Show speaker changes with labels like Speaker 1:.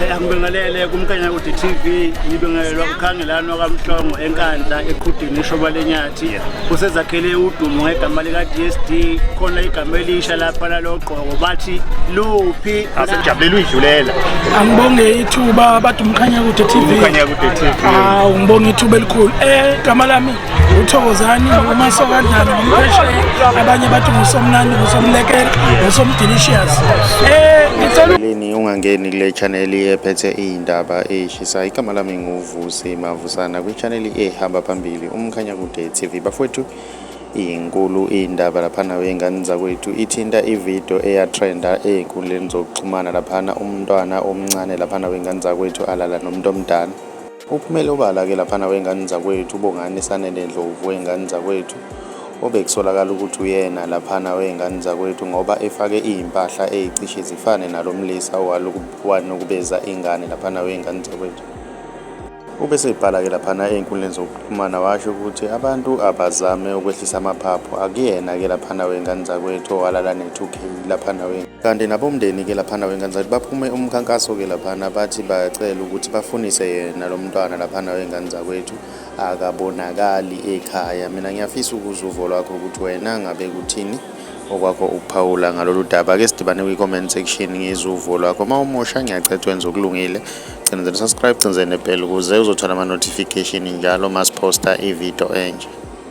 Speaker 1: Eh, angibingelele kumkanya kude TV ngibingelelwa ukhangelano kamhlongo enkandla eqhudini ishoba lenyathi usezakhele udumo ngegama lika DSD khona igama elisha lapha lalogqoko bathi luphi asijabulele
Speaker 2: uyidlulela angibonge
Speaker 3: ithuba bathi umkhanya kude TV umkhanya kude TV hawu ngibonga ithuba elikhulu eh igama lami uthokozani umasokandlana ngompheshe abanye bathi ngusomnandi ngusomlekela ngusomdelicious eh ngicela
Speaker 2: Ungangeni kule chaneli ephethe iy'ndaba ey'shisayo. Igama lami nguVusi Mavusana kwichaneli ehamba phambili uMkhanyakude TV. Bafowethu inkulu iy'ndaba laphana wey'ngane zakwethu ithinta ividiyo eyatrenda ey'nkundleni zokuxhumana laphana umntwana omncane laphana wey'ngane zakwethu alala nomuntu omdala. Uphumele obala ke laphana wengane zakwethu uBongani Sanele Ndlovu wengane zakwethu obekusolakala ukuthi uyena laphana wengane zakwethu ngoba efake izimpahla ezicishe zifane nalomlisa owanukubeza ingane laphana wengane zakwethu. Ube sebhala ke laphana ezinkundleni zokuxhumana washo ukuthi abantu abazame ukwehlisa amaphaphu akuyena ke laphana wengane zakwethu owalala ne-2K laphana wengane kanti nabomndeni-ke laphana wey'ngane baphume umkhankaso-ke laphana bathi bacela ukuthi bafunise yena lo mntwana laphana wey'ngane zakwethu akabonakali ekhaya mina ngiyafisa ukuza uvo lwakho ukuthi wena ngabe kuthini okwakho ukuphawula ngalolu daba ke sidibane kwi-comment section ngizwe uvo lwakho uma umusha ngiyacetha wenza okulungile cinzeni subscribe cinzeni nebhela ukuze uzothola ama-notification njalo masiphosta ividiyo enje